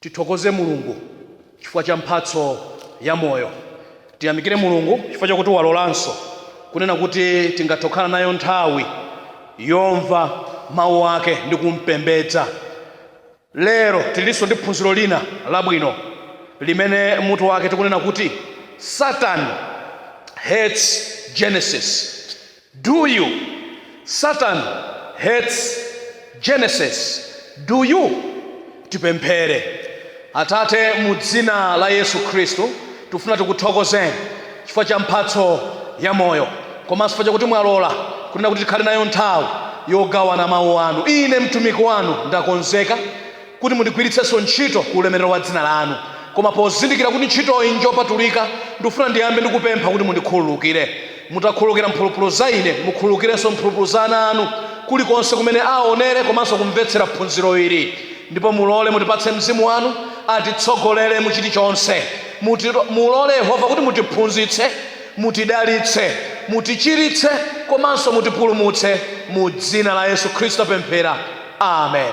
Tithokoze Mulungu chifukwa cha mphatso ya moyo. Tiyamikire Mulungu chifukwa chakuti walolanso kunena kuti tingathe kukhala nayo nthawi yomva Mau ake ndi kumpembedza. Lero tilinso ndi phunziro lina labwino limene mutu wake tikunena kuti Satan hates Genesis. Do you? Satan hates Genesis, do you? Tipemphere. Atate, mu Dzina la Yesu Khristu, tikufuna tikuthokozeni chifukwa cha mphatso ya moyo, komanso chifukwa chakuti mwalola kunena kuti tikhale nayo nthawi yogawana Mawu Anu. Ine mtumiki Wanu ndakonzeka kuti mundigwiritsenso ntchito ku ulemerero wa dzina lanu. Koma pozindikira kuti ntchitoyi njopatulika, ndikufuna ndiyambe ndi kupempha kuti mundikhululukire. Mutakhululukira mphulupulu za ine, mukhululukirenso mphulupulu za ana anu kulikonse kumene aonere komanso kumvetsera phunziro ili. Ndipo mulole mutipatse Mzimu wanu, atitsogolere mu chilichonse. Mulole Yehova kuti mutiphunzitse, mutidalitse, mutichiritse komanso mutipulumutse. Mu dzina la Yesu Khristu tapemphera. Amen.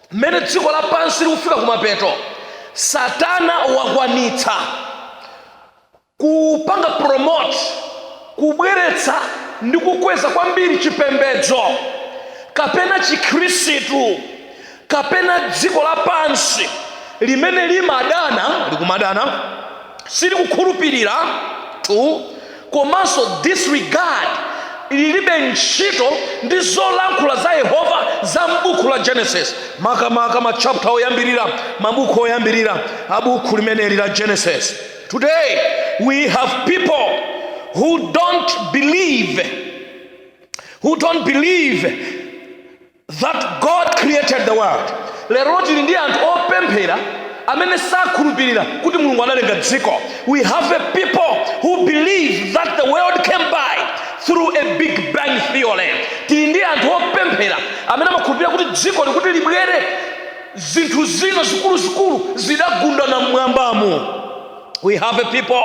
mmene dziko lapansi likufika kumapeto satana wakwanitsa kupanga promote kubweretsa ndi kukweza kwambiri chipembedzo kapena chikhristu kapena dziko lapansi limene limadana likumadana silikukhulupirira tu komanso disregard lilibe ntchito ndi zolankhula za yehova za m'buku la genesis makamaka machapta oyambirira mabuku oyambirira a buku limeneli la genesis today we have people who don't believe who don't believe that God created the world. Lero tili ndi anthu opemphera amene sakhulupirira kuti Mulungu analenga dziko. We have a people who believe that the world came by through a big bang theory. Tili ndi anthu opemphera amene amakhulupirira kuti dziko likuti libwere zinthu zina zikuluzikulu zidagundana mmwambamo. we have a people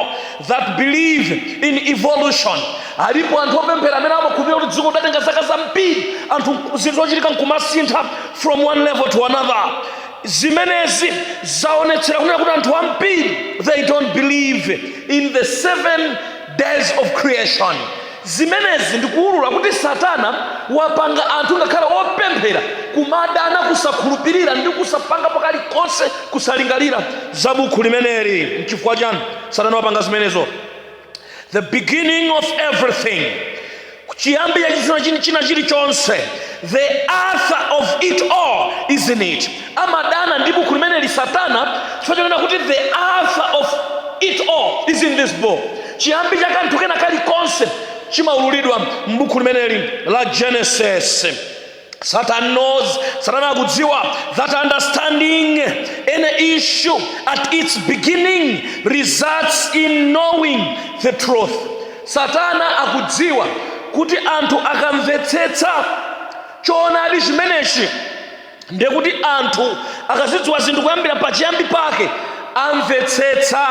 that believe in evolution alipo anthu opemphera amene amakhulupirira kuti dziko lidatenga zaka zambiri anthu zinthu zochitika nkumasintha from one level to another zimenezi zaonetsera kunena kuti anthu ambiri they don't believe in the seven days of creation Zimenezi ndikuulula kuti Satana wapanga anthu ngakhale opemphera kumadana kusakhulupirira ndi kusapangapo kalikonse kusalingalira za bukhu limeneli. Nchifukwa chani Satana wapanga zimenezo? The beginning of everything, chiyambi cha china chilichonse. The author of it all is in it. amadana ndi buku limeneli satana chifukwa chonena kuti the alpha of it all is in this book chiyambi cha kanthu kena kalikonse chimaululidwa m'buku limeneli la genesis Satan knows, Satana akudziwa that understanding any issue at its beginning results in knowing the truth. Satana akudziwa kuti anthu akamvetsetsa choonadi chimenechi ndiye kuti anthu akazidziwa zinthu kuyambira pachiyambi pake amvetsetsa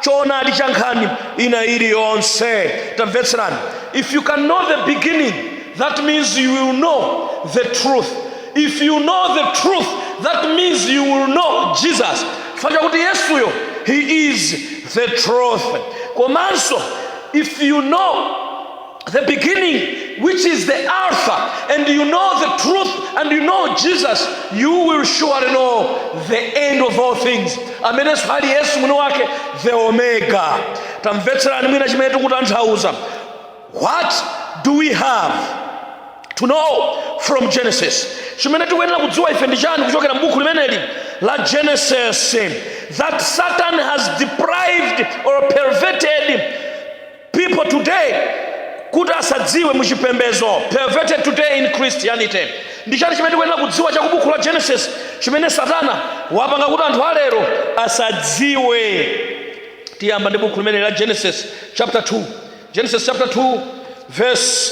choonadi cha nkhani ina iliyonse tamvetserani if you can know the beginning that means you will know the truth if you know the truth that means you will know jesus chifukwa chakuti yesuyo he is the truth komanso if you know the beginning, which is the Alpha, and you know the truth, and you know Jesus, you will surely know the end of all things. Amenenso ali Yesu mwini wake, the Omega. Tamvetserani mwina chimene tikutanthauza. What do we have? to know from genesis chimene tikuyenera kudziwa ife ndi chani kuchokera m'buku limeneli la genesis that satan has deprived or perverted people today kuti asadziwe mu chipembedzo perverted today in christianity ndi chani chimene tikuyenera kudziwa cha kubuku la genesis chimene satana wapanga kuti anthu alero asadziwe tiyamba ndi buku limene la genesis chapter 2 genesis chapter 2 verse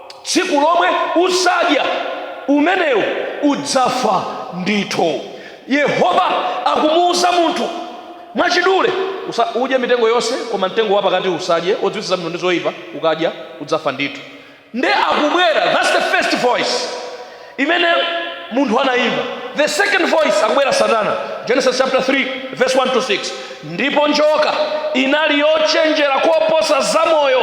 tsiku lomwe uzadya umenewo udzafa ndithu yehova akumuwuza munthu mwachidule usa, udye mitengo yonse koma mtengo wapakati usadye odziwitsa zabwino ndi zoyipa ukadya udzafa ndithu nde akubwera thats the first voice imene munthu anayimva the second voice akubwera satana genesis chapter 3 verse 1 to 6 ndipo njoka inali yochenjera koposa zamoyo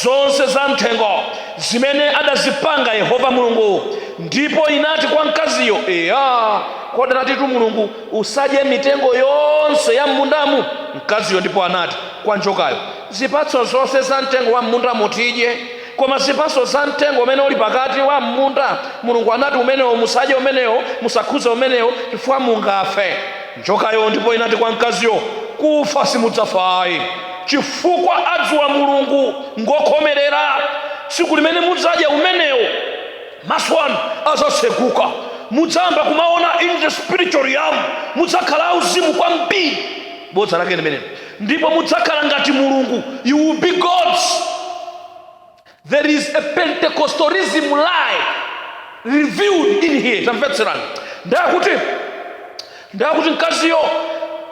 zonse za mthengo zimene adazipanga yehova mulungu ndipo inati kwa mkaziyo eya kodi anatitu mulungu usadye mitengo yonse ya mmundamu mkaziyo ndipo anati kwa njokayo zipatso zonse za mtengo wa mmundamo tidye Koma zipatso za mtengo umene uli pakati wa m'munda, Mulungu anati, Umenewo musadye umenewo, musakhudze umenewo, chifukwa mungafe. Njokayo ndipo inati kwa mkaziyo, Kufa simudzafa ayi, chifukwa adziwa Mulungu ngokhomerera. Tsiku limene mudzadya umenewo, maso anu adzatseguka, mudzayamba kumaona in the spiritual realm, mudzakhala auzimu kwambiri. Bodza lake limenelo. ndipo mudzakhala ngati mulungu you will be gods there is a pentecostalism lie revealed in here tamvetserani ndakuti ndakuti mkaziyo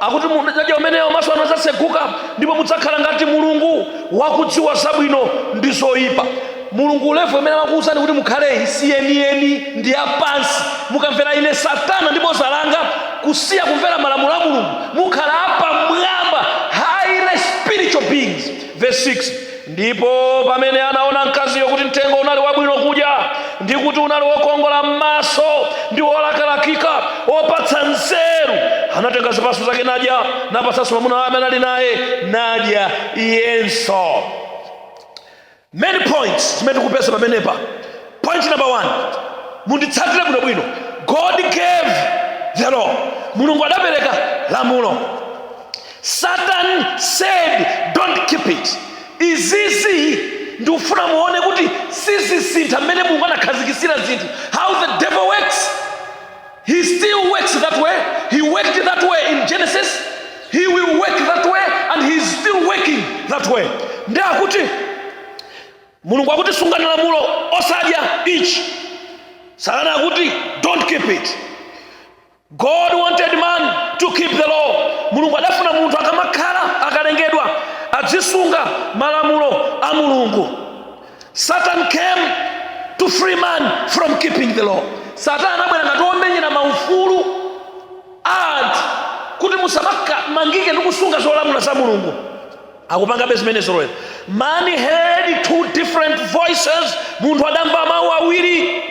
akuti mukadya umenewo maso anu adzatseguka ndipo mudzakhala ngati mulungu wakudziwa zabwino ndi zoyipa mulungu levo imene amakuwuzani kuti mukhale isiyeniyeni ndi yapansi mukamvera ine satana ndi bodza langa kusiya kumvera malamulo a mulungu mukhala apamwamba highly spiritual beings verse 6 ndipo pamene anaona mkaziyo kuti mtengo unali wabwino kudya ndi kuti unali wokongola m'maso ndi wolakalakika wopatsa nzeru anatenga zipatso zake nadya napatsanso mwamuna wake amene ali naye nadya iyenso many points zimene tikupeza pamenepa point number one munditsatire bwinobwino god gave the law mulungu adapereka lamulo satan said don't keep it izizi ndikufuna muone kuti sizisintha mmene mulungu anakhazikitsira zinthu how the devil works He still works that way. He worked that way in Genesis. He will work that way and he is still working that way. Ndi akuti Mulungu akuti sungani lamulo osadya ichi. Satana akuti don't keep it. God wanted man to keep the law. Mulungu adafuna munthu akamakhala akalengedwa adzisunga malamulo a Mulungu. Satan came to free man from keeping the law. Satana anabwera ngati womenyera maufulu anthu kuti musamangike ndi kusunga zolamula za Mulungu. Akupangabe zimenezo lero. Man heard two different voices, munthu adamva mawu awiri.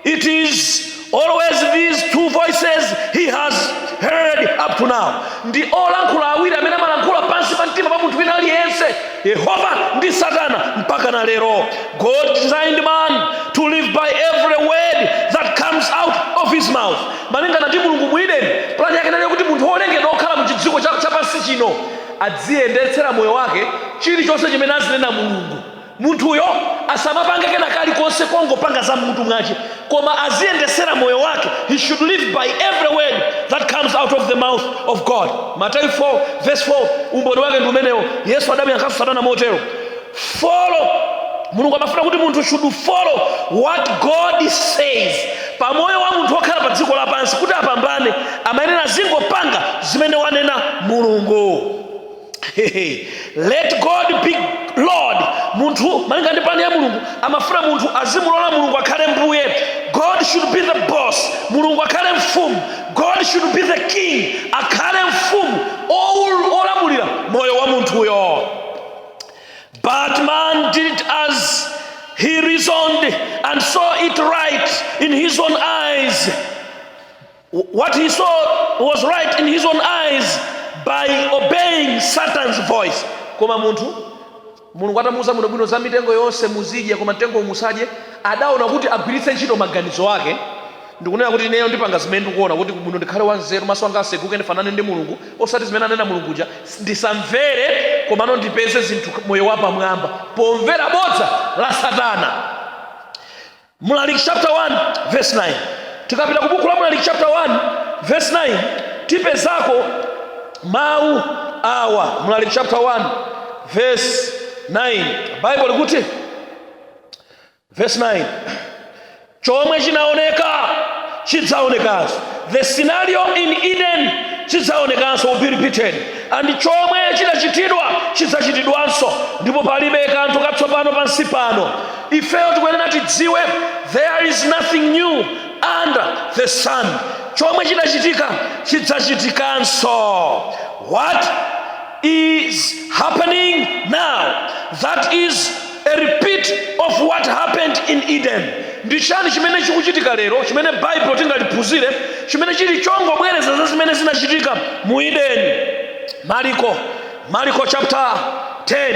It is always these two voices he has heard up to now. Ndi olankhula awiri amene amalankhula pansi pa mtima pa munthu wina aliyense, Yehova ndi Satana mpaka na lero. God designed man to live by every word that comes out of his mouth. Malingana ndi Mulungu mu Edeni, plani yake inali yokuti munthu wolengedwa okhala mu chidziko chapansi chino adziyendetsera moyo wake chilichonse chimene azinena Mulungu. Munthuyo asamapange kena kalikonse kongopanga za m'mutu mwache, koma aziyendetsera moyo wake, he should live by every word that comes out of the mouth of God. Mateyu 4 vs 4 umboni wake ndi umenewo. Yesu adamuyankhanso Satana motero, Follow Mulungu amafuna kuti munthu should follow what God says. Pa moyo wa munthu wokhala pa dziko lapansi kuti apambane, amayenera azingopanga zimene wanena Mulungu. let god be lord munthu malinga ndi pulani ya mulungu amafuna munthu azimulola mulungu akhale mbuye god should be the boss mulungu akhale mfumu god should be the king akhale mfumu oul- olamulira moyo wa munthuyo But man did as he reasoned and saw it right in his own eyes. What he saw was right in his own eyes by obeying Satan's voice. Koma munthu mulungu atamuuza bwinobwino za mitengo yonse muzidya koma mtengo uwu musadye adaona kuti agwiritse ntchito maganizo ake ndikunena kuti ineyo ndipanga zimene ndikuona kuti muno ndikhale wanzeru maso anga aseguke ndifanane ndi mulungu osati zimene anena mulunguja ndisamvere komano ndipeze zinthu moyo wapamwamba pomvera bodza la satana Mlaliki chapter 1 verse 9. Tikapita ku buku la Mlaliki chapter 1 verse 9 tipezako mawu awa. Mlaliki chapter 1 verse 9 Bible likuti verse 9 chomwe chinaoneka chidzaonekanso the scenario in eden chidzaonekanso will be repeated and chomwe chidachitidwa chidzachitidwanso ndipo palibe kanthu katsopano pansi pano ifeyo tikuyenera tidziwe there is nothing new under the sun chomwe chidachitika chidzachitikanso what is happening now that is a repeat of what happened in eden ndi chiyani chimene chikuchitika lero chimene baibulo tingaliphunzire chimene chili chongobwereza za zimene zinachitika mu eden mariko mariko chapter 10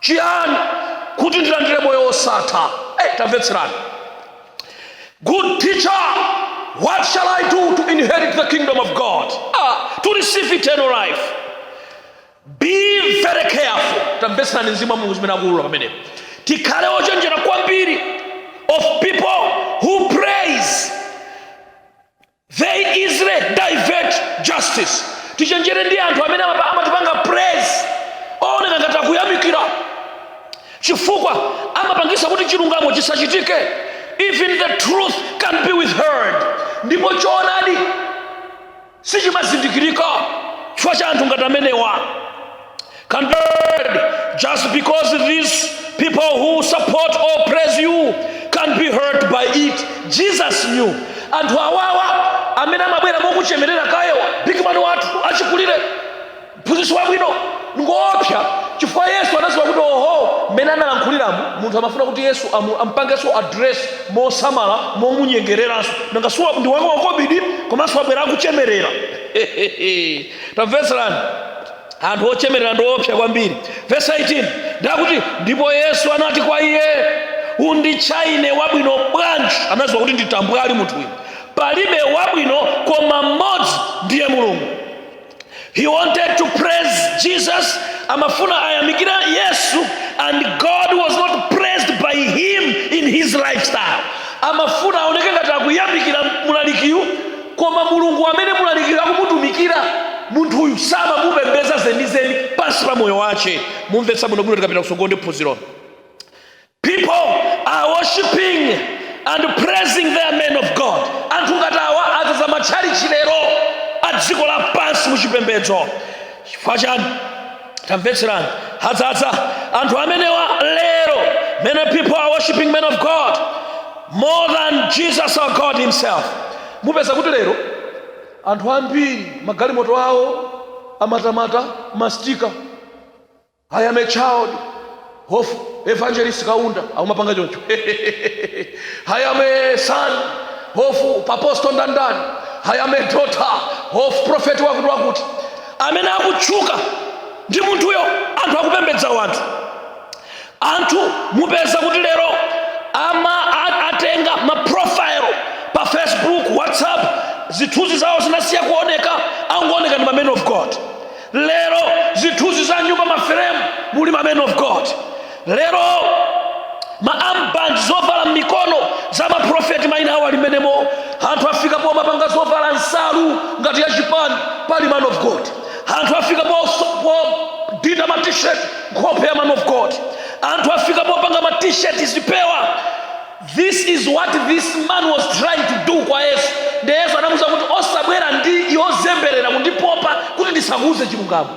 chiyani kuti ndilandire moyo wosatha hey, eh, tamvetserani good teacher what shall i do to inherit the kingdom of god ah, to receive eternal life be very careful tamvetserani mzimu wa mulungu zimene akuulula pamenepo tikhale ochenjera kwambiri of people who praise They easily divert justice. Tichenjere ndi anthu amene amapa- amatipanga praise ooneka ngati akuyamikira chifukwa amapangisa kuti chilungamo chisachitike even the truth can be withheld ndipo choonadi sichimazindikirika chifukwa cha anthu ngati amenewa Compared, just because these people who support or praise you can be hurt by it. Jesus knew. Anthu awawa amene amabwera mokuchemerera kayewa bigimani wathu achikulire mphunzitsi wabwino ngoopsa chifukwa yesu anaziwa kuti oho mmene analankhuliramu munthu amafuna kuti yesu amu- ampangenso address mosamala momunyengereranso nanga siwa ndi wamakobidi komanso wabwera akuchemerera tamvetserani anthu ochemerera ndi oopsa kwambiri vesi 18 ndakuti ndipo yesu anati kwa iye unditcha ine wabwino bwanji anaziwa kuti ndi tambwali munthu uyu palibe wabwino koma mmodzi ndiye mulungu he wanted to praise jesus amafuna ayamikire yesu and god was not praised by him in his lifestyle amafuna aoneke ngati akuyamikira mulalikiyu koma mulungu amene mlalikiri akumutumikira munthuyu samamupembedza zenizeni pansi pa moyo wace mumvetsa bwinobwino tikapita kusogolo ndi phunzirolo people are worshiping and praising their men of god anthu ngati awa adzaza matchalichi lero a dziko lapansi muchipembedzo chifukwa chani tamvetserani adzadza anthu amenewa lero many people are worshiping men of god more than jesus or god himself mupeza kuti lero anthu ambiri magalimoto awo amatamata mastika i am a child of Evangelist Kaunda akumapanga choncho I am a son of apostle ndanindani I am a daughter of prophet wakuti wakuti amene akutchuka ndi munthuyo anthu akupembedza wanthu anthu mupeza kuti lero ama a- atenga maprofile pa facebook whatsapp zithunzi zawo zinasiya kuoneka angooneka ndi ma man of god lero zithunzi za nyumba maferemu muli ma men of god lero maarmband zovala m'mikono za maprofeti maina awo ali mmenemo anthu afika pomapanga zovala nsalu ngati ya chipani pali man of god anthu afika podinda matishet nkhope ya man of god anthu afika popanga matisheti zipewa This is what this man was trying to do kwa Yesu. Ndiye Yesu anamuuza kuti osabwera ndi yozemberera kundipopa kuti ndisakuuze chilungamo.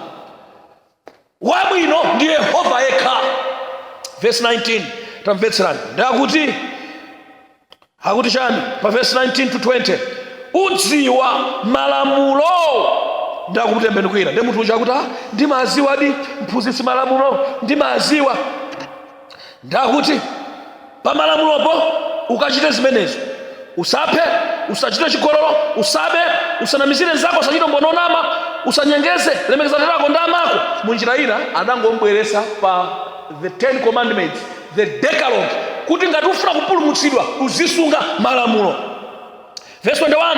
Wabwino ndi Yehova yekha. Verse 19 tamvetserani ndakuti akuti chani pa verse 19 to 20 udziwa malamulo ndakumtembenukira nde munthu uja akuti ah, ndimaziwadi mphunzitsi malamulo ndimaziwa ndakuti pamalamulopo ukachite zimenezo usaphe usachite chigololo usabe usanamizire nzako usachite mboni onama usanyengeze lemekeza atate ako ndi amako mu njira ina anangombweresa pa the ten commandments the decalogue kuti ngati ufuna kupulumutsidwa uzisunga malamulo verse 21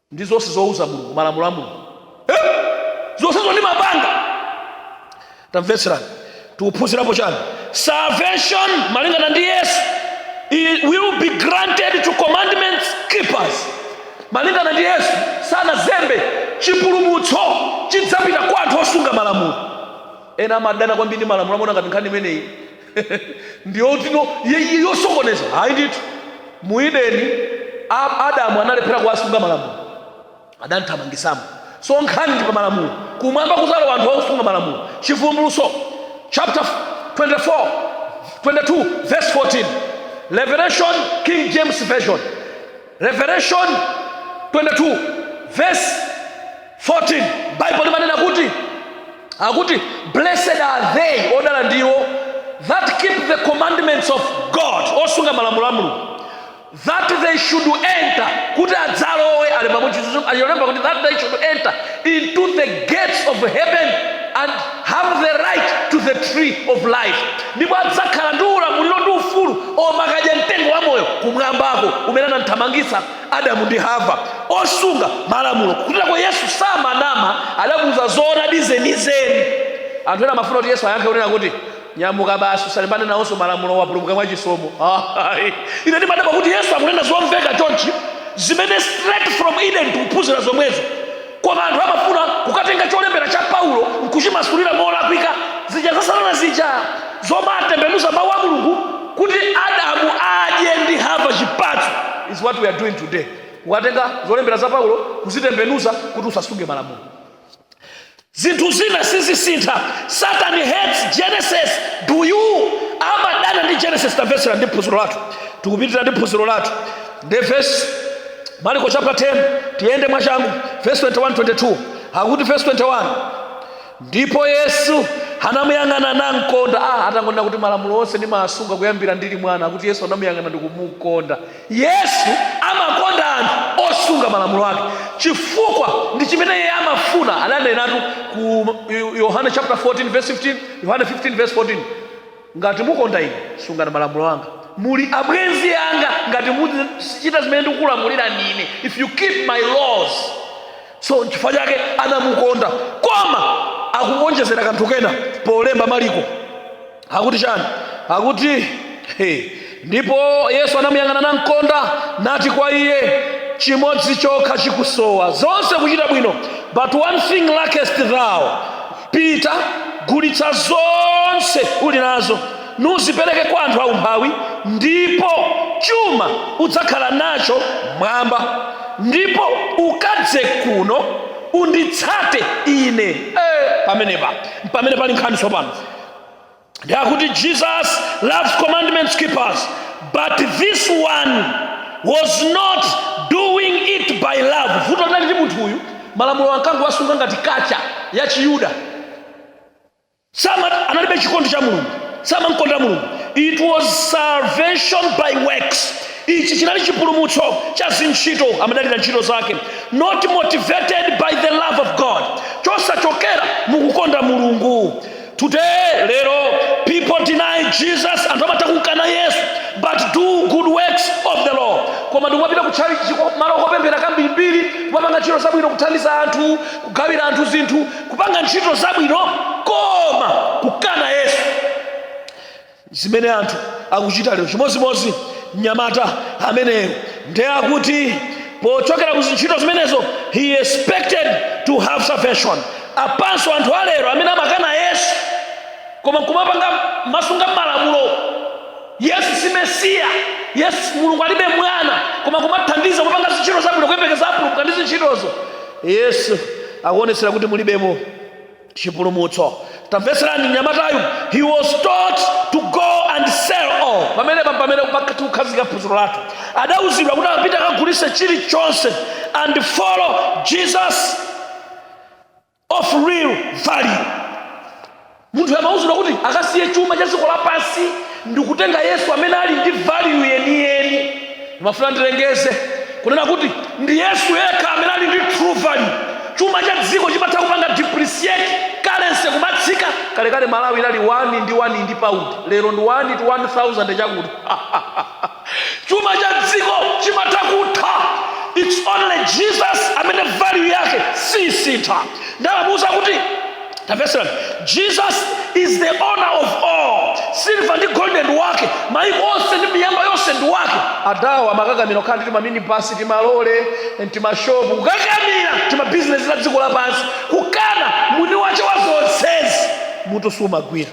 ndi zonse zouza mulungu malamulo a mulungu Eh? zonsezo ndimapanga tamvetserani tikuphunzirapo chiyani salvation malingana ndi yesu i- will be granted to commandments keepers malingana ndi yesu sanazembe chipulumutso chidzapita kwa anthu osunga malamulo ena amadana kwambiri ndi malamulo amona ngati nkhani imeneyi ndi yoti no ye- ye- yosokoneza ayi ndithu mu ideni a- adamu analephera kuwasunga malamulo adamthamangisamo so nkhani ndi pa malamulo kumwamba kudzalowa anthu akusunga malamulo chivumbulutso chapter 24 22 verse 14 revelation king james version Revelation 22 verse 14 bible limanena kuti akuti blessed are they odala ndiwo that keep the commandments of god osunga malamulo a mulungu that they should enter kuti adzalowe alemba kuti that they should enter into the gates of heaven and have the right to the tree of life ndipo adzakhala ndi ulamuliro ndi ufulu omakadya mtengo wa moyo kumwambako kumene anamthamangitsa adamu ndi hava osunga malamulo kutitako yesu samanama adamuuza zoonadi zenizeni anthu ena amafuna kuti yesu ayankhe kunena kuti nyamuka basi usalimbane nawonso malamulo wapulumuka mwa chisomo Ayi. ine ndimadabwa kuti yesu akunena zomveka chonchi zimene straight from eden tikuphunzira zomwezo koma anthu amafuna kukatenga cholembera cha paulo nkuchimasulira molakwika zija za satana zija zomatembenuza mawu a mulungu kuti adamu adye ndi hava chipatso is what we are doing today kukatenga zolembera za paulo kuzitembenuza kuti usasunge malamulo zinthu zina sizisintha satan hates genesis do you amadana ndi genesis tamvetsera ndi phunziro lathu tikupitira ndi phunziro lathu nde vesi mariko chapter 10 tiyende mwachangu vesi 21 22 akuti vesi 21 ndipo yesu anamuyang'ana namkonda ah, atangonena kuti malamulo onse ndimasunga kuyambira ndili mwana akuti yesu anamuyang'ana ndikumukonda yesu amakonda anthu osunga malamulo ake chifukwa ndi chimene iye amafuna adanenatu ku Yo- yohane chapter 14 verse 15 yohane 15 verse 14 ngati mukonda ine sungani malamulo anga muli abwenzi anga ngati muchita zimene ndikukulamulira ndine if you keep my laws so chifukwa chake anamukonda koma akuwonjezera kanthu kena polemba maliko akuti chani akuti hey. ndipo yesu anamuyang'ana namkonda nati kwa iye chimodzi chokha chikusowa zonse kuchita bwino but one thing lackest thou pita gulitsa zonse uli nazo nuzipereke kwa anthu aumphawi ndipo chuma udzakhala nacho mwamba ndipo ukadze kuno unditsate ine eh, pamenepa mpamene pali nkhani tsopano ndiye akuti jesus loves commandments keepers but this one was not doing it by love vuto linali loti munthu uyu malamulo ankangowasunga ngati kacha ya chiyuda sama analibe chikondi cha mulungu samamkonda mulungu it was salvation by works ichi chinali chipulumutso cha zintchito amadalira ntchito zake not motivated by the love of god chosachokera mukukonda mulungu Today, lero, people deny Jesus anthu amatha kukana Yesu, but do good works of the law. Koma ndikumapita ku church malo kopemphera kambirimbiri, kumapanga ntchito zabwino kuthandiza anthu, kugawira anthu zinthu, kupanga ntchito zabwino koma kukana Yesu. zimene anthu akuchita lero chimodzimodzi mnyamata ameneyo ndiye akuti pochokera ku zintchito zimenezo he expected to have salvation apanso anthu alero amene amakana yesu koma kumapanga kumasunga malamulo yesu si mesiya yesu mulungu alibe mwana koma kumathandiza kumapanga zintchito zabwino kuyembekeza apulumuka ndi zintchitozo yesu akuonetsera kuti mulibemo chipulumutso tamvetserani mnyamatayu he was told to go and sell all pamenepa mpamene tikukhazika phunziro lathu adauzidwa kuti apite akagulitse chilichonse and follow jesus of real value munthu amauzidwa kuti akasiye chuma cha dziko lapansi ndikutenga yesu amene ali ndi value yeniyeni Ndimafuna ndilengeze kunena kuti ndi Yesu yekha amene ali ndi true value. Chuma cha dziko chimatha kupanga depreciate, currency kumatsika. Kalekale Malawi inali 1 ndi 1 ndi pound, lero ndi 1 to 1000 chakuti. Chuma cha dziko chimatha kutha. It's only Jesus amene value yake sisintha. Nde amamuuza kuti tamvetserani jesus is the owner of all siliva ndi golde ndi wake maiko onse ndi miyamba yonse ndi wake adawo amakakamira kukhala ndi timaminibasi timalole timashopu kukakamira timabizinesi la dziko lapansi kukana mwini wake wa zonsezi mutu sumagwira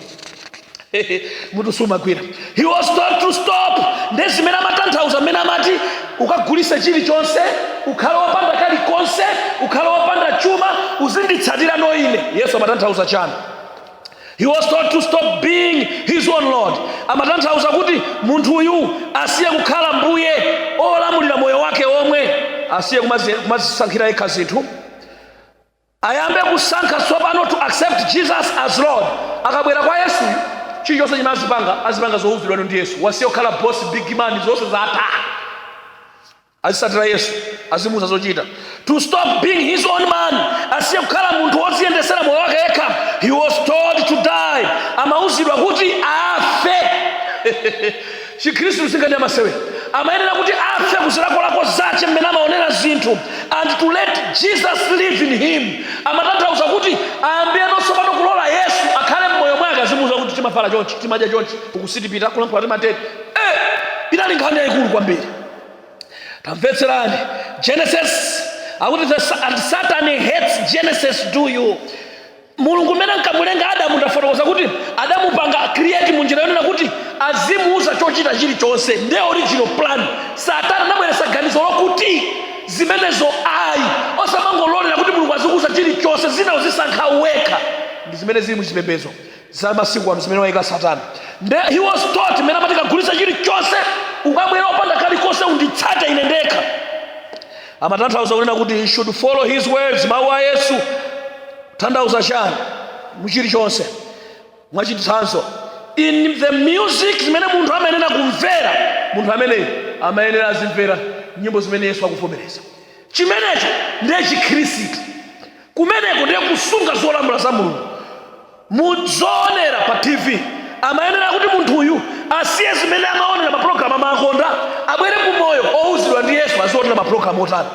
mutu sumagwira he was told to stop nde zimene amatanthauza mmene amati ukagulise chilichonse ukhale wopanda kalikonse ukhale wopanda chuma uzinditsatira no ine yesu amatanthauza chani he was told to stop being his own lord amatanthauza kuti munthu uyu asiye kukhala mbuye olamulira moyo wake omwe asiye kumazisankhira yekha zinthu ayambe kusankha tsopano to accept jesus as lord akabwera kwa yesu chilichonse chimene azipanga azipanga zouzidwano ndi yesu wasiye kukhala boss big man zonse zatha azisatira yesu azimuuza zochita to stop being his own man asiye kukhala munthu woziyendesera moyo wake yekha he was told to die amauzidwa kuti afe Chikhristutu si nkhani ya masewera. Amayenera kuti afe ku zilakolako zace mmene amaonera zinthu and to let Jesus live in him amatanthauza kuti ayambireno tsopano kulola Yesu akhale mmoyo mwake azimuuza kuti timavala chonchi, timadya chonchi, uku sitipita, kulankhula timatero. Eh! Inali nkhani yayikulu kwambiri. Tamvetserani. Genesis akuti the, and Satan hates Genesis do you mulungu mmene ankamulenga adamu ndafotokoza kuti adamupanga create mu njira yonena kuti azimuuza chochita chilichonse nde original plan satana anabweretsa ganizo lokuti zimenezo ayi osamangololera kuti mulungu azikuuza chilichonse zina uzisankha wekha ndi zimene zili mu chipembedzo za masiku ano zimene wayika satana nde he was told mmene amati kagulitsa chilichonse ukabwere opanda kalikonse unditsate ine ndekha amatanthauza kunena kuti he should follow his words mawu a yesu kutanthauza chani muchilichonse mwachitsanzo in the music zimene munthu amayenera kumvera munthu ameneyo amayenera azimvera nyimbo zimene yesu akuvomereza chimenecho ndiye chikhristu kumeneko ndiye kusunga zolamula za mulungu muzoonera pa tv amayenera kuti munthuyu asiye zimene amaonera mapulogalamu amakonda abwere ku moyo owuzidwa ndi yesu azionera mapulogalamu otani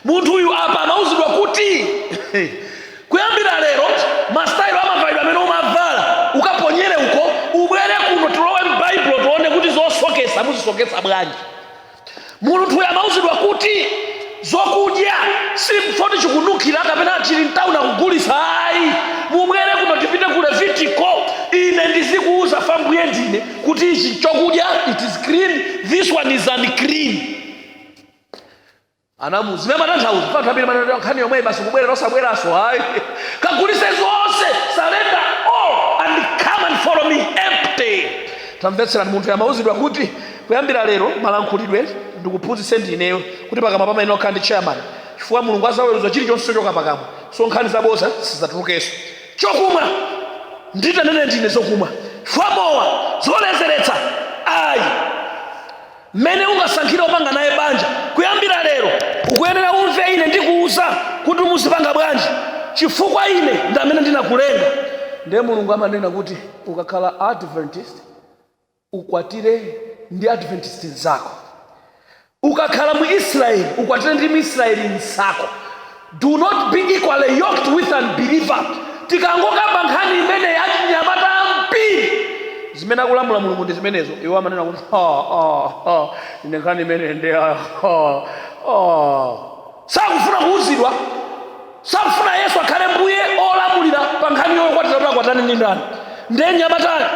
munthuyu apa amauzidwa kuti kuyambira lero masitayilo amavalidwe amene umavala ukaponyere uko ubwere kuno tilowe m'baibulo tione kuti zosokesa muzisokesa bwanji munthuyo amauzidwa kuti zokudya simpoti chikununkhira kapena chili mtauni akugulitsa ayi mubwere kuno tipite ku levitiko ine ndizikuuza pa mbuye ndine kuti ichi chokudya it is clean this one is unclean anamu zimene matanthauzo kwa nthawi imene nkhani yomwe basi kubwera osabweranso hayi kagulise zonse surrender all and come and follow me empty tamvetserani munthu yamauzidwa kuti kuyambira lero malankhulidwe ndikuphunzitse ndineyo kuti pakamwa pamene okhala ndi chairman chifukwa mulungu azaweruza chilichonse chochoka pakamwa so nkhani zaboza sizatulukenso chokumwa nditanene ndine zokumwa chifukwa mowa zoledzeretsa ayi mmene ungasankhire opanga naye banja kuyambira lero ukuyenera umve ine ndikuuza kuti muzipanga bwanji chifukwa ine ndi amene ndinakulenga ndiye mulungu amanena kuti ukakhala adventist ukwatire ndi adventist nzako ukakhala mu israeli ukwatire ndi mu israeli nzako do not be equally yoked with unbeliever tikangokamba nkhani imeneyi achinyamata ambiri zimene akulamula mulungu ndi zimenezo iwo amanena kuti ine nkhani imeneyi nde sakufuna kuuzidwa sakufuna yesu akhale mbuye olamulira pa nkhani yokwatira kuti akwatane ndi ndani Ndiye mnyamatayo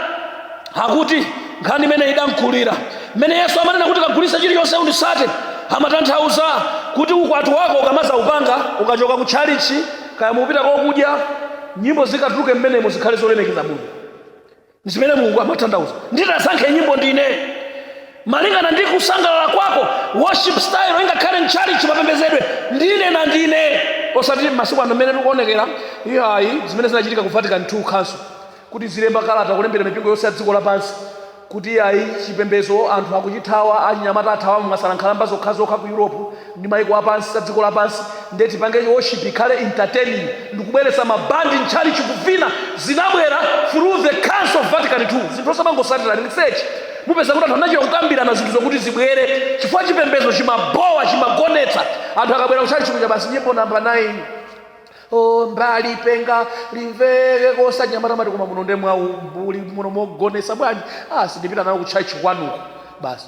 akuti nkhani imene idamkulira mmene Yesu amanena kuti kagulitse chilichonse unditsate amatanthauza kuti ukwati wako ukamazaupanga ukachoka ku tchalichi kaya mupita kokudya nyimbo zikatuluke mmenemo zikhale zolemekeza Mulungu zimene Mulungu amatanthauza nditasankhe nyimbo ndine malingana ndi kusangalala kwako worship style ingakhale mtchalichi mapembedzedwe ndine na ndine osati masiku ano mmene tikuonekera iyayi zimene zinachitika ku vatican 2 council kuti azilemba kalata kulembera mipingo yonse ya dziko lapansi kuti iyayi chipembedzo anthu akuchithawa achinyamata athawa mwasala nkhalamba zokhazokha ku europe ndi maiko apansi a dziko lapansi nde tipange worship ikhale entertaining ndikubweretsa mabandi mtchalichi kuvina zinabwera through the council of vatican 2 zinthu osamangosatira research mupeza kuti anthu anachita kukambirana zinthu zokuti zibwere chifukwa chipembedzo chimabowa chimagonetsa anthu akabwera kutchalichi kuja basi nyimbo namba 9 o mbiri lipenga limveke anyamata amati koma muno nde mwaumbuli muno mogonetsa bwanji ah sindipita nawo kutchalichi kwanuko basi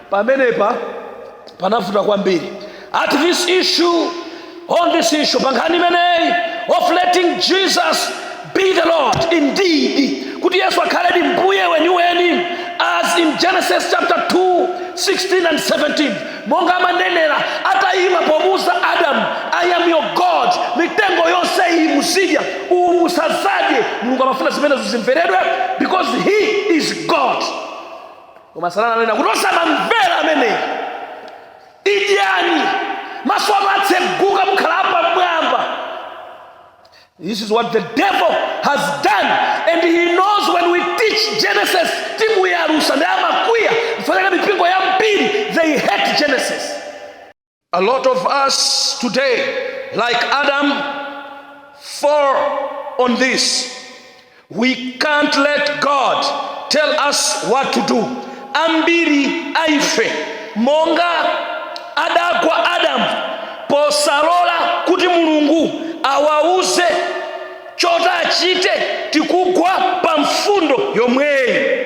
pamenepa panavuta kwambiri at this issue on this issue pa nkhani imeneyi of letting jesus be the lord indeed kuti yesu akhaledi mbuye weniweni as in genesis chapter 2 16 and 17 monga amanenera atayima pomuuza adamu i am your god mitengo yonse iyi muzidya uwu musazadye mulungu amafuna zimenezo zimveredwe because he is god koma satana ananena kuti osamamvera ameneyo idyani maso anu atseguka mukhala apamwamba this is what the devil has done and he knows when we teach genesis timuyalutsa nde amakwiya kufanana mipingo yambiri they hate genesis A lot of us today, like Adam, fall on this. We can't let God tell us what to do. Ambiri aife monga adagwa Adam posalola kuti Mulungu awauze choti achite tikugwa pa mfundo yomweyi.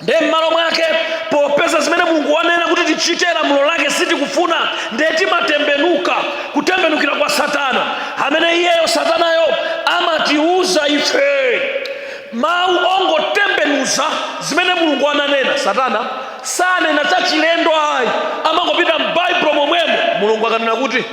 nde m'malo mwake popeza zimene mulungu wanena kuti tichite lamulo lake sitikufuna nde timatembenuka kutembenukira kwa satana amene iyeyo satanayo amatiuza ife mawu ongotembenuza zimene mulungu ananena satana sanena zachilendo ayi amangopita m'baibulo momwemo mulungu akanena kuti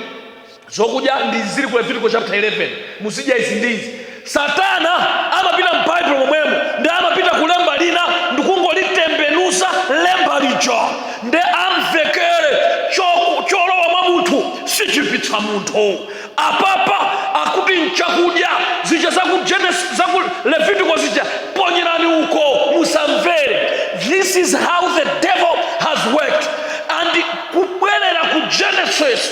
zokudya ndi izi zili ku Levitiko chapter 11 muzidya izi ndi izi satana amapita m'baibulo momwemo ndi amapita kulemba lina ndikungolitembenuza lemba lija ndi amvekere cho- cholowa mwa munthu sichiipitsa munthu apapa akuti mchakudya zija zaku Genesis- zaku levitiko zija ponyerani uko musamvere this is how the devil has worked and kubwerera ku genesis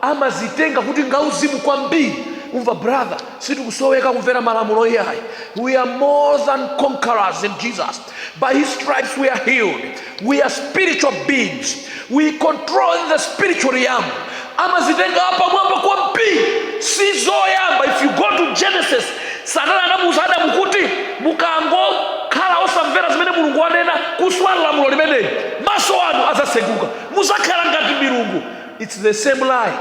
amazitenga kuti ngauzimu kwambiri umamva brother sitikusoweka kumvera malamulo iyayi we are more than conquerors in jesus by his stripes we are healed we are spiritual beings we control the spiritual realm amazitenga apamwamba kwambiri si zoyamba if you go to genesis satana anamuuza adamu kuti mukangokhala osamvera zimene mulungu wanena kuswa lamulo limeneli maso anu adzaseguka muzakhala ngati milungu It's the same lie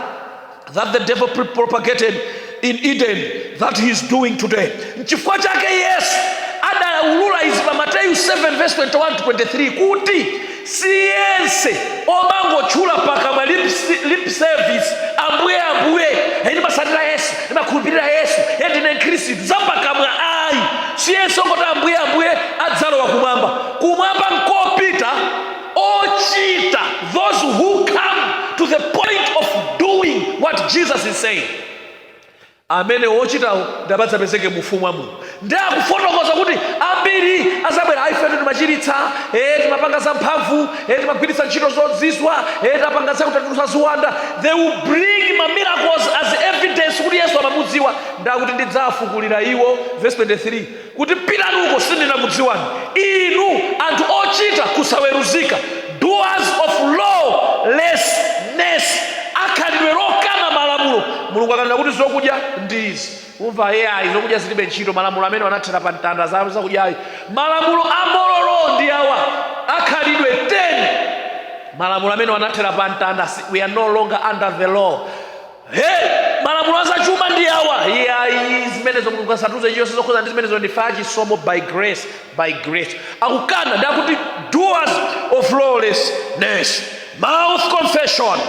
that the devil propagated in Eden that he is doing today. Nchifukwa chake Yesu adaulula izi pa Mateyu 7 verse 21 to 23 kuti siyense amangotchula pakamwa lip, lip service ambuye ambuye e ndimatsatira Yesu e ndimakhulupirira Yesu e ndine Mkhristu zapakamwa ayi siyense ongoti ambuye ambuye adzalowa kumwamba kumwamba nkopita ochita those who come to the point of doing what jesus is saying amene ochitawo nd'amadzapezeke mu ufumu wa mulungu ndi akufotokoza kuti ambiri azabwera aifetu timachiritsa e timapanga za mphamvu e timagwiritsa ntchito zozizwa e tapanga zakutulutsa ziwanda they will bring ma miracles as evidence kuti yesu amamudziwa ndakuti ndidzafukulira iwo verse 23 kuti pitani uko sindinakudziwani inu anthu ochita kusaweruzika doers of lawlessness akhalidwe lokana malamulo mulungu akanena kuti zokudya ndi izi umva ye ayi zokudya zilibe ntchito malamulo amene anathera pa mtanda za zakudyayi malamulo a moral law ndi awa akhalidwe 10 malamulo amene anathera pa mtanda we are no longer under the law he malamulo azachuma ndi awa iyayi zimenezo mulungu asatiuze chilichonse zokhuza ndi zimenezo ndife achisomo by grace by grace akukana ndi akuti doers of lawlessness mouth confession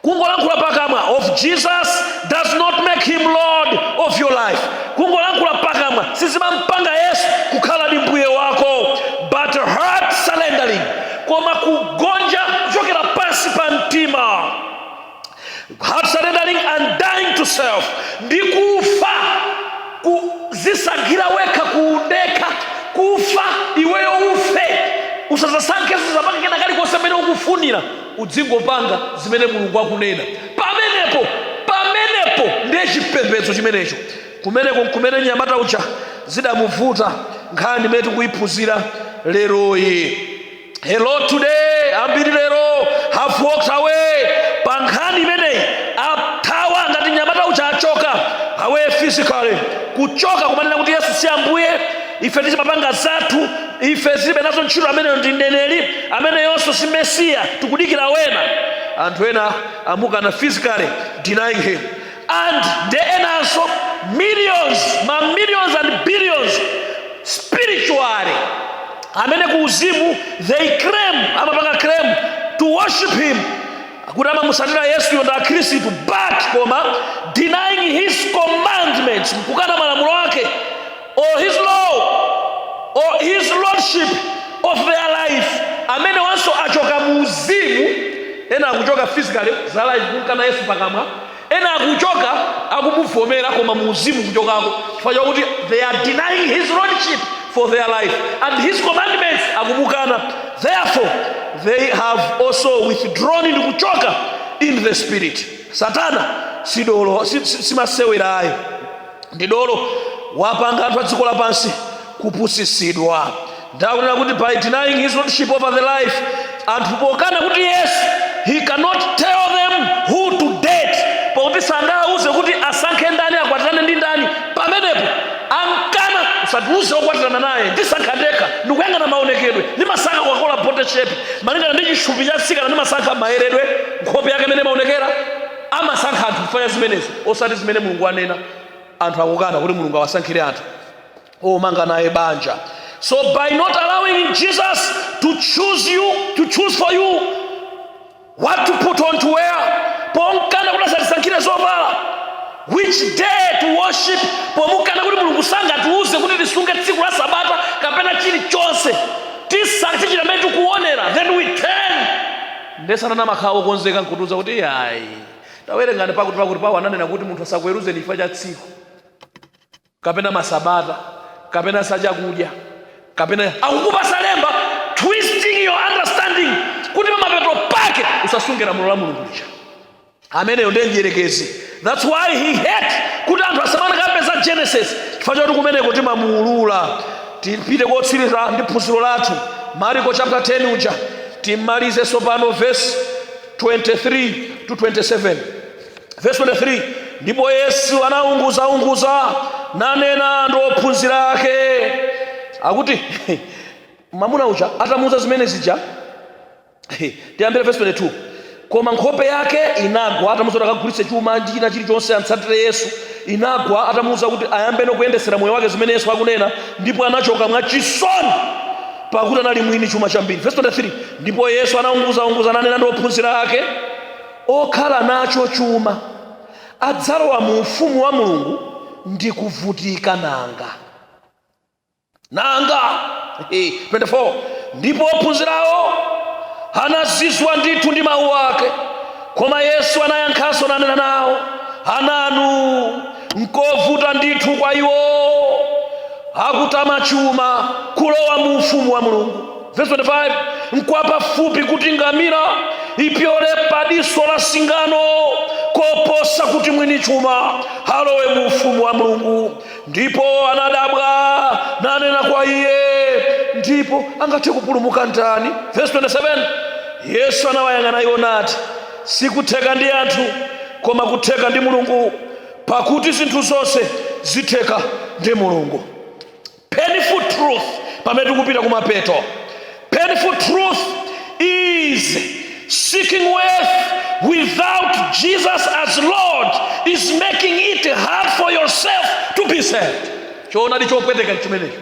kungolankhula pakamwa of jesus does not make him lord of your life kungolankhula pakamwa sizimampanga yesu kukhala ndi mbuye wako but heart surrendering koma kugonja kuchokera pansi pa mtima heart surrendering and dying to self ndi kufa kudzisankhira wekha kuundekha kufa iweyo ufe usazasankheso kuzapanga kena kalikonse mmene ukufunira udzingopanga zimene mulungu akunena pamenepo pamenepo ndiye chipembedzo chimenecho kumeneko nkumene nyamata uja zidamuvuta nkhani imene tikuyiphunzira leroyi hello today ambiri lero have walked away pa nkhani imeneyi athawa ngati nyamata uja a walk away physically kuchoka kumanena kuti yesu si ambuye ife tizimapanga zathu ife tilibe nazo ntchito ameneyo ndi mneneri ameneyonso si mesiya tikudikira wena anthu ena amukana physically denying him and ndi enanso millions ma millions and billions spiritually amene ku uzimu they claim amapanga claim to worship him kuti amamusatira yesuyo ndi akhristu but koma denying his commandments kukana malamulo ake or his law or his lordship of their life amenewanso achoka mu uzimu ena akuchoka physically akumukana yesu pakamwa ena akuchoka akumuvomera koma mu uzimu kuchokako chifukwa chakuti they are denying his lordship for their life and his commandments akumukana therefore they have also withdrawn kuchoka in the spirit satana sidolo si- si- simasewerayo ndi dolo wapanga anthu a dziko lapansi kupusitsidwa ndikunena kuti by denying his lordship over their life anthu pokana kuti yesu he cannot tell them who to date pakuti sangawauze kuti asankhe ndani akwatirane ndi ndani pamenepo ankana usatiuze okwatirana naye ndisankha ndekha ndikuyang'ana maonekedwe ndimasankha koka kola body shape malingana ndi chithupi cha tsikana ndimasankha mayeredwe nkhope yake imene imaonekera amasankha anthu kufanya zimenezo osati zimene mulungu anena anthu akukana kuti mulungu awasankhire anthu omanga naye banja so by not allowing jesus to choose for you what to put on to wear pomkana kuti asatisankhire zovala which day to worship pomukana kuti mulungu sangatiuze kuti tisunge tsiku la sabata kapena chilichonse tisankhe chimene tikuonera then we turn Nde satana amakhala wokonzeka nkutiuza kuti iyayi tawerengani pakuti pakuti Paulo ananena kuti munthu asakuweruzeni chifukwa cha tsiku kapena masabata kapena za chakudya kapena akukupasa lemba twisting your understanding kuti pamapeto pake usasunge lamulo la mulungu lija ameneyo ndiye mdyerekezi thats why he hate kuti anthu asamanakambe za genesis chifukwa choti kumeneko timamuulula tipite kotsiriza ndi phunziro lathu mariko chapter 10 uja timalize tsopano verse 23 to 27 verse 23 ndipo yesu anaunguzaunguza nanena ndi ophunzira ake akuti mamuna uja atamuuza zimene zija tiyambire verse 22 koma nkhope yake inagwa atamuuza kuti akagulitse chuma ndi china chilichonse amtsatire yesu inagwa atamuuza kuti ayambeno kuyendetsera moyo wake zimene yesu akunena ndipo anachoka mwa chisoni pakuti anali mwini chuma chambiri verse 23 ndipo yesu anaunguzaunguza nanena ndi ophunzira ake okhala nacho chuma adzalowa mu ufumu wa mulungu ndi kuvutika nanga nanga eh, 24 ndipo ophunzirawo anazizwa ndithu ndi mawu ake koma yesu anayankhanso nanena nawo ananu nkovuta ndithu kwa iwo akutama chuma kulowa mu ufumu wa mulungu verse 25 nkwapafupi kuti ngamira ipyole padiso la singano koposa kuti mwini chuma alowe mu ufumu wa mulungu ndipo anadabwa nanena kwa iye ndipo angathe kupulumuka ndani verse 27 yesu anawayang'ana iwo nati sikutheka ndi anthu koma kutheka ndi mulungu pakuti zinthu zonse zitheka ndi mulungu painful truth pamene tikupita kumapeto Painful truth is seeking wealth without Jesus as Lord is making it hard for yourself to be saved. Choonadi chopweteka chimenecho.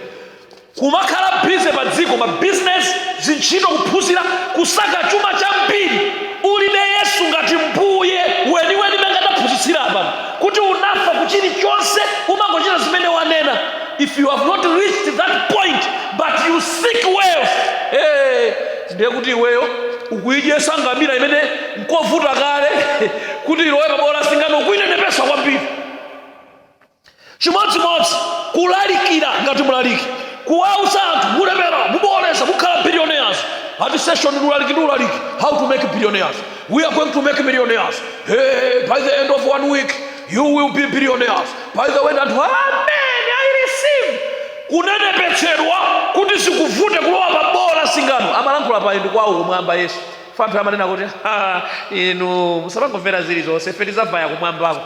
Kumakhala bize pa dziko ma business zintchito kuphunzira kusaka chuma chambiri ulibe Yesu ngati mbuye weniweni mmene taphunzitsira apa kuti unafa kuchilichonse umangochita zimene wanena if you have not reached that point but you seek wealth eh, ndiye kuti iweyo ukuyidyesa ngamira imene nkovuta kale kuti ilowe pabowo la singano ukuyinenepesa kwambiri chimodzimodzi kulalikira ngati mulaliki kuwauza anthu mulemera muboola mukhala billionaires ati session ndi ulaliki ndi ulaliki how to make billionaires we are going to make millionaires hey, by the end of one week you will be billionaires by the way nde anthu amen I receive kunenepetsedwa kuti zikuvute kulowa pa boo la singano amalankhulapayu ndi kwawo kumwamba yesu pa anthu amanena kuti "Ha, inu musamangomvera zilizonse ife tizavaya kumwambako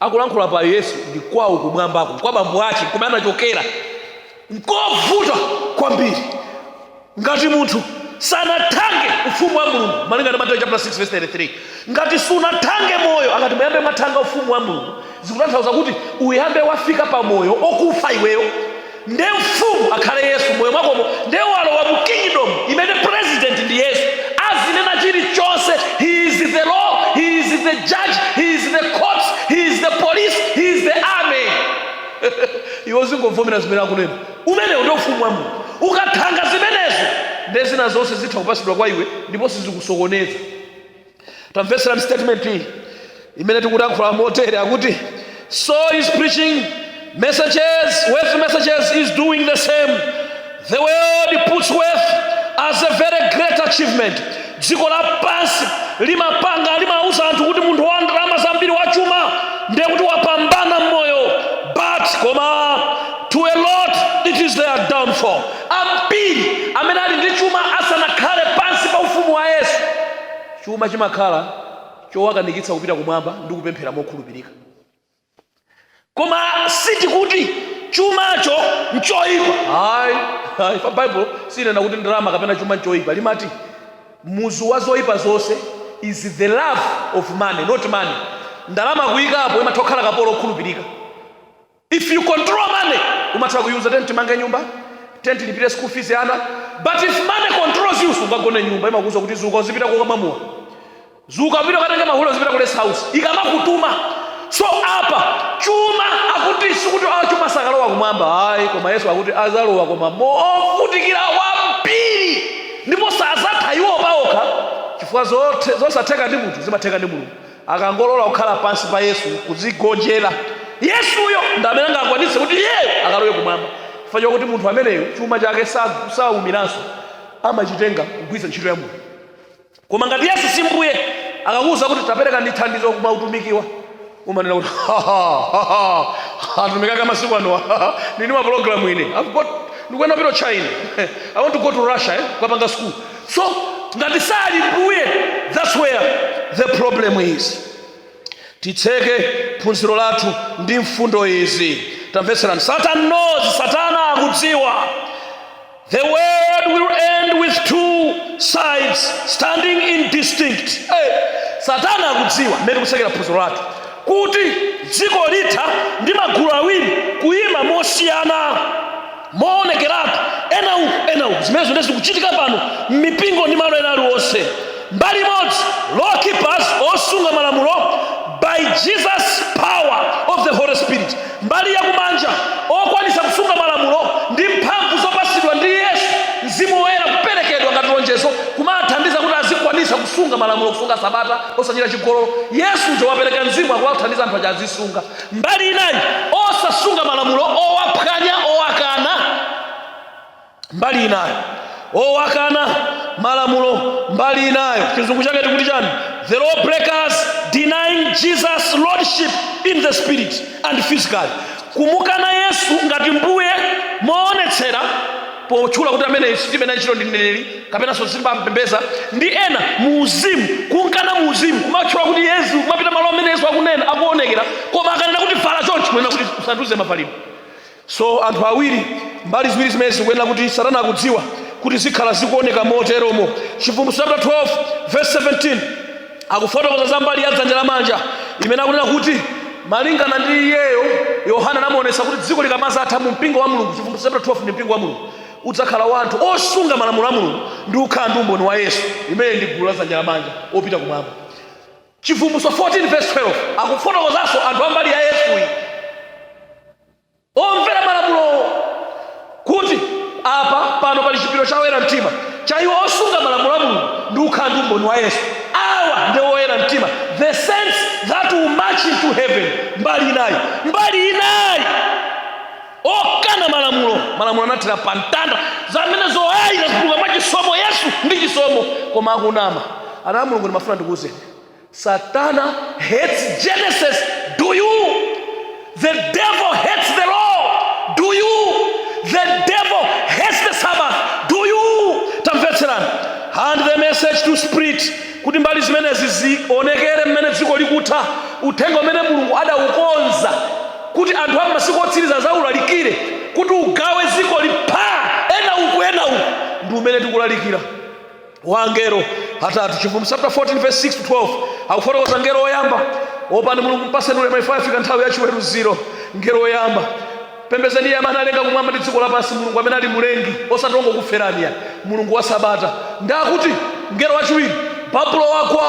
akulankhula pa yesu ndi kwawo kumwambako kwa bambo ake kumene anachokera nkovuta kwambiri ngati munthu sanathange ufumu wa mulungu malingana ndi mateyu chapter 6 verse 33 ngati sunathange moyo akati muyambe mwathanga ufumu wa mulungu zikutanthauza kuti uyambe wafika pa moyo okufa iweyo nde mfumu akhale yesu moyo mwakomo nde walowa mu kingdom imene president ndi yesu azinena chilichonse he is the law he is the judge he is the court he is the police he is the army iwe uzingovomera zimene akunena umenewo ndi ufumu wa mulungu ukathanga zimenezo nde zina zonse zitha kupasidwa kwa iwe ndipo sizikakusokoneza tamvetsera statement iyi imene tikulankhula motere akuti so is preaching messages wealth messages is doing the same The world puts wealth as a very great achievement. Dziko lapansi limapanga limauza anthu kuti munthu wa ndalama zambiri wachuma ndiye kuti wapambana mmoyo. But koma to a lot it is their downfall. Ambiri amene ali ndi chuma asanakhale pansi pa ufumu wa Yesu, chuma chimakhala chowakanikitsa kupita kumwamba ndi kupemphera mokhulupirika. koma sitikuti chumacho nchoyipa hayi pa bible sinena kuti ndalama kapena chuma nchoyipa limati muzu wa zoyipa zonse is the love of money not money ndalama kuyikapo imatha kukhala kapolo okhulupirika if you control money umatha kuyuza tiyeni timange nyumba tiyeni tilipire school fees ana but if money controls you sungagone mnyumba imakuuza kuti zuka uzipita kwa mamuna zuka upite ukatenge mahule uzipita ku rest house ikamakutuma so apa chuma akuti sikuti a chuma sakalowa kumwamba ayi koma yesu akuti azalowa koma movutikira kwambiri ndipo sazatha iwo paokha chifukwa zothe- zosatheka ndi munthu zimatheka ndi mulungu akangolola kukhala pansi pa yesu kuzigonjera yesuyo ndi amene angakwanitse kuti iyeyo akalowe kumwamba chifukwa chokuti munthu ameneyo chuma chake sa- saumiranso amachitenga kugwiritsa ntchito ya mulungu koma ngati yesu si mbuye akakuwuza kuti tapereka ndi thandizo kumautumiki wa umanena kuti utumiki wa masiku ano ndili ndi ma program ine ndikuyenera kupita china i want to go to russia kukapanga school so ngati sali mbuye that's where the problem is titseke phunziro lathu ndi mfundo izi tamvetserani satan knows satana akudziwa The world will end with two sides standing in distinct. Satana akudziwa mmene tikutsekera phunziro lathu kuti dziko litha ndi magulu awiri kuyima mosiyana moonekeratu ena uku ena uku zimenezo nde zikuchitika pano m'mipingo ndi malo ena aliwonse mbali imodzi law keepers osunga malamulo by jesus power of the holy spirit Mbali ya kumanja, Okwanitsa kusunga malamulo ndi mphamvu zopatsidwa ndi Yesu, Mzimu Woyera kuperekedwa ngati lonjezo kumawathandiza kuti azikwanitsa kusunga malamulo, kusunga Sabata, osachita chigololo. Yesu uja wapereka Mzimu akuwathandiza anthu aja azisunga. Mbali inayi, Osasunga malamulo, owaphwanya, owakana. mbali inayo owakana malamulo mbali inayo chizungu chake tikuti chani the law breakers denying jesus lordship in the spirit and physically kumukana yesu ngati mbuye moonetsera potchula kuti amene sitimunena ndithu ndi mneneri kapenanso sitimampembedza ndi ena muuzimu kunkana muuzimu kumatchula kuti yesu kumapita malo amene yesu akunena akuwonekera koma akanena kuti vala chonchi kunena kuti usandiuze mavalidwe So anthu awiri, mbali ziwiri zimenezi zikuyenera kuti Satana akudziwa kuti zikhala zikuoneka moteromo. Chivumbulutso chapter 12 verse 17 akufotokoza za mbali ya dzanja lamanja imene akunena kuti malingana ndi iyeyo Yohana anamuonetsa kuti dziko likamazatha mu mpingo wa Mulungu, Chivumbulutso chapter 12 ndi mpingo wa Mulungu udzakhala wa anthu osunga malamulo a Mulungu ndi kukhala ndi umboni wa Yesu, imene ndi gulu la dzanja lamanja opita kumwamba. Chivumbulutso 14 verse 12 akufotokozanso anthu a mbali ya Yesuyi omvera malamulowo kuti apa pano pali chipiriro cha oyera mtima cha iwo osunga malamulo a mulungu ndi kukhala ndi umboni wa yesu awa ndi oyera mtima the saints that will march into heaven mbali inayi mbali inayi okana malamulo malamulo anathera pa mtanda zimenezo ayi tikupulumuka mwa chisomo yesu ndi chisomo koma akunama ana a mulungu ndimafuna ndikuwuzeni Satan hates Genesis, do you? The devil hates the law, do you? The devil hates the Sabbath, do you? Tamvetserani. And the message to spirit kuti mbali zimenezi zionekere mmene dziko likutha uthenga umene mulungu adaukonza kuti anthu a masiku otsiriza zaulalikire kuti ugawe dzikoli pha ena uku ena uku ndi umene tikulalikira wa angelo atatu chivumbulutso chapter 14 verse 6 to 12 akufotokoza ngelo woyamba opani mulungu mpaseni ulemu chifukwa yafika nthawi ya chiweruziro ngelo woyamba pembezeni iye amene analenga kumwamba ndi dziko lapansi mulungu amene ali mulengi osati wongokuferani iyayi mulungu wa sabata nde akuti ngelo wachiwiri babulo wagwa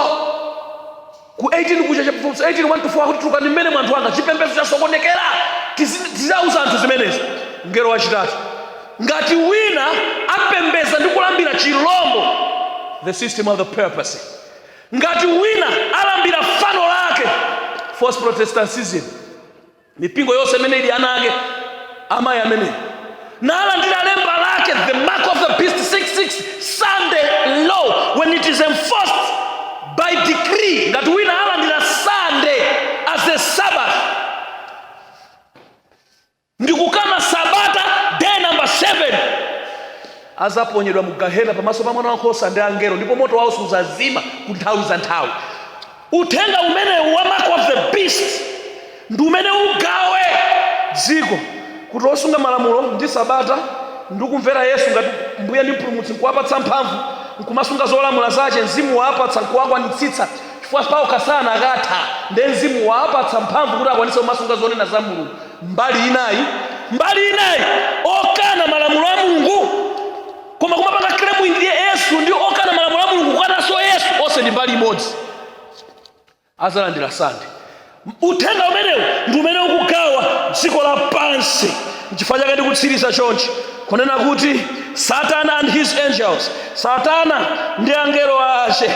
Ku 18 kuja chivumbulutso 18 1 to 4 akuti tulukani mmenemo anthu anga chipembedzo chasokonekera Tizi- tizauza anthu zimenezi mngelo wachitatu ngati wina apembeza ndi kulambira chilombo the system of the papacy ngati wina alambira fano lake false protestantism mipingo yonse imene ili ana ake amayi ameneyu nalandira lemba lake the mark of the beast 666 sunday law when it is enforced by decree ngati wina alandira sunday as a sabbath ndikukana sabata day number 7 azaponyedwa mu gahena pamaso pa mwana wankhosa ndi angelo ndipo moto wawo suzazima ku nthawi za nthawi Uthenga umenewu wa mark of the beast ndi umene ugawe dziko kuti osunga malamulo ndi sabata ndi kumvera Yesu ngati mbuye ndi mpulumutsi nkuwapatsa mphamvu nkumasunga zolamula zace mzimu waapatsa nkuwakwanitsitsa chifukwa paokha sanakatha nde mzimu waapatsa mphamvu kuti akwanitse kumasunga zonena za mulungu mbali inayi mbali inayi okana malamulo a mulungu koma kumapanga claim ndiye yesu ndi okana malamulo a mulungu kukananso yesu onse ndi mbali imodzi azalandira sunday uthenga umenewu ndi umene ukugawa dziko lapansi nchifukwa chake ndikutsiriza chonchi kunena kuti satan and his angels satana ndi angelo ace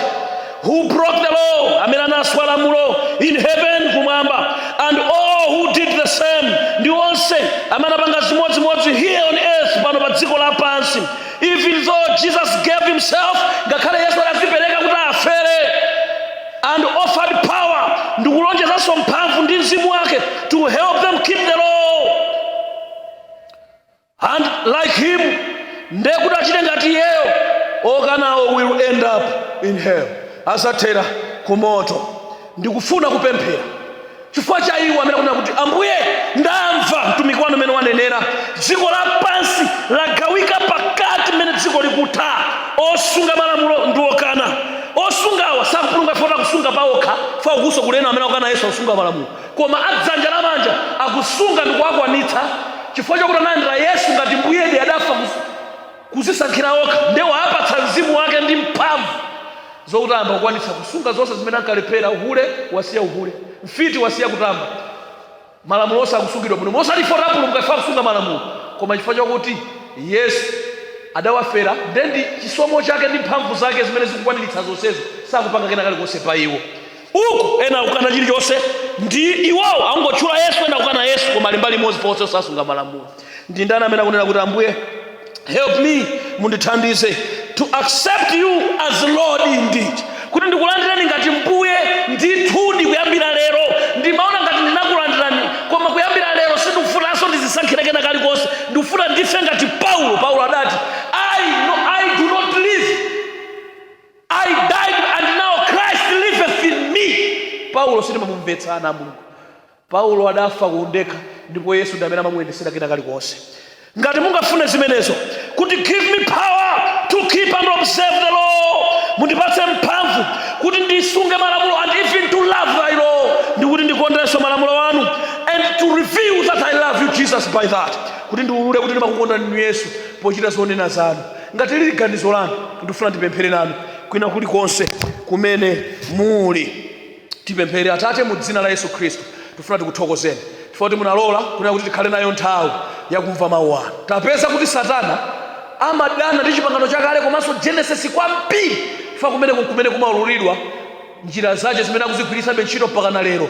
who broke the law amene anaswa lamulo in heaven kumwamba and all who did the same ndi onse amene anapanga zimodzimodzi here on earth pano pa dziko lapansi even though jesus gave himself ngakhale yesu adazipereka kuti afere and offered power ndikulonjezanso mphamvu ndi mzimu wake to help them keep the law and like him nde kuti achite ngati iyeyo okanawo will end up in hell azathera ku moto ndikufuna kupemphera chifukwa cha iwo amene akunena kuti ambuye ndamva mtumiki wanu mmene wanenera dziko lapansi lagawika pakati mmene dziko likutha osunga malamulo ndi okana osungawa sakupulumuka chifukwa cha kusunga paokha chifukwa kukusowa kulena amene akukana yesu akusunga malamulo koma a dzanja lamanja akusunga ndi kuwakwanitsa chifukwa chakuti analandira yesu ngati mbuyedi adafa kuzisankhira okha nde waapatsa mzimu wake ndi mphamvu zokuti ayambe kukwanitsa kusunga zonse zimene ankalephera uhule wasiya uhule mfiti wasiya kutamba malamulo onse akusungidwa bwino mosati ife apulumuka chifukwa akusunga malamulo koma chifukwa chakuti yesu adawafera nde ndi chisomo chake ndi mphamvu zake zimene zikukwaniritsa zonsezo sakupanga kena kalikonse pa iwo uku ena akukana chilichonse ndi iwowo angotchula yesu ena akukana yesu koma ali mbali imodzi ponse osasunga malamulo ndi ndani amene akunena kuti ambuye help me mundithandize to accept you as lord indeed kuti ndikulandireni ngati mbuye ndithudi kuyambira lero ndimaona ngati ndinakulandirani koma kuyambira lero sindikufunanso ndizisankhire kena kalikonse ndikufuna ndife ngati paulo paulo adati I do not live I died and now Christ liveth in me. Paulo sindimamumvetsa ana a Mulungu. Paulo adafa ku undekha ndipo Yesu ndi amene amamuyendetsera kena kalikonse. Ngati mungafune zimenezo kuti give me power to keep and observe the law, mundipatse mphamvu kuti ndisunge malamulo and even to love thy law, ndi kuti ndikondenso malamulo anu and to reveal that I love you Jesus by that, kuti ndiulule kuti ndimakukondani inu Yesu pochita zonena zanu. Ngati lili ganizo lanu, ndifuna ndipemphere nanu kwina kulikonse kumene muli. Tipemphere. Atate, mu dzina la Yesu Khristu, tifuna tikuthokozeni chifukwa kuti munalola kunena kuti tikhale nayo nthawi yakumva mawu anu. Tapeza kuti Satana amadana ndi chipangano chakale komanso Genesis kwambiri chifukwa kumeneko nkumene kumaululidwa njira zache zimene akuzigwiritsabe ntchito mpakana lero.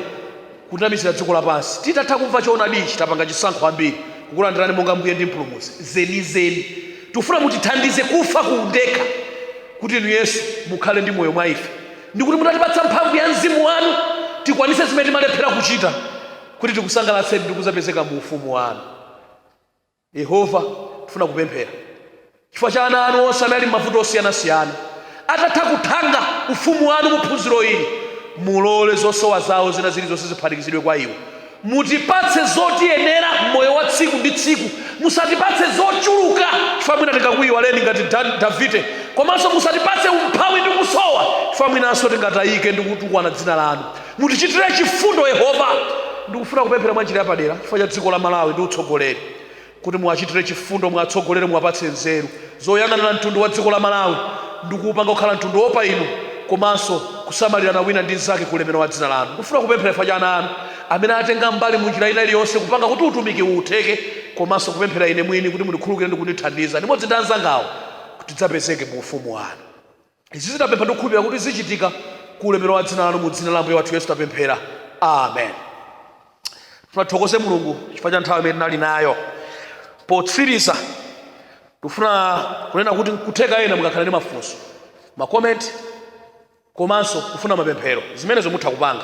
kunamizira dziko lapansi. Titatha kumva choonadi ichi, tapanga chisankho ambiri kukulandirani monga Mbuye ndi Mpulumutsi zenizeni. Tikufuna mutithandize kufa ku undekha kuti Inu Yesu mukhale ndi moyo mwa ife ndi kuti mutatipatsa mphamvu ya Mzimu wanu, tikwanitse zimene timalephera kuchita kuti tikusangalatseni ndi kuzapezeka mu ufumu wanu. Yehova, tifuna kupemphera chifukwa cha ana anu onse amene ali m'mavuto osiyanasiyana. Atatha kuthanga ufumu wanu mu phunziro ili, mulole zosowa zawo zina zilizonse ziphatikizidwe kwa iwo. Mutipatse zotiyenera m'moyo wa tsiku ndi tsiku. Musatipatse zochuluka chifukwa mwina tingakuiwaleni ngati Davide. Komanso musatipatse umphawi ndi kusowa chifukwa mwinanso tingatayike ndi kutukwana dzina lanu. mutichitire chifundo yehova ndikufuna kupemphera mwa njira yapadera chifukwa cha dziko la malawi ndi utsogoleri kuti muwachitire chifundo muwatsogolere muwapatse nzeru zoyang'anira mtundu wa dziko la malawi ndi kuupanga kukhala mtundu woopa inu komanso kusamalirana wina ndi mnzake ku ulemero wa dzina lanu ndikufuna kupemphera chifukwa cha ana anu amene atenga mbali mu njira ina iliyonse kupanga kuti utumiki uwu utheke komanso kupemphera ine mwini kuti mundikhululukire ndi kundithandiza limodzi ndi anzangawo kuti tidzapezeke mu ufumu wanu Izi tapempha ndi kukhulupirira kuti zichitika ku ulemerero wa dzina lanu, mu dzina la Ambuye wathu Yesu tapemphera. Amen. Tifuna tithokoze Mulungu chifukwa cha nthawi imene tinali nayo. Potsiriza, tikufuna kunena kuti nkutheka ena mungakhale ndi mafunso, makomenti komanso kufuna mapemphero, zimenezo mutha kupanga.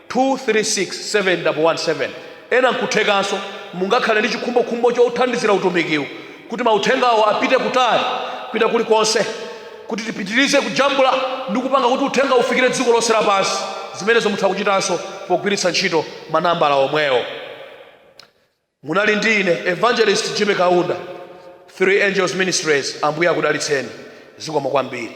2 3 6 7 double 1 7 Ena nkuthekanso mungakhale ndi chikhumbokhumbo chothandizira utumikiwu kuti mauthengawo apite kutali, kupita kulikonse kuti tipitirize kujambula ndi kupanga kuti uthengawo ufikire dziko lonse lapansi. Zimenezo mutha kuchitanso pogwiritsa ntchito ma nambala omwewo. Munali ndi ine Evangelist Jimmy Kaunda, Three Angels Ministries. Ambuye akudalitseni. Zikomo kwambiri.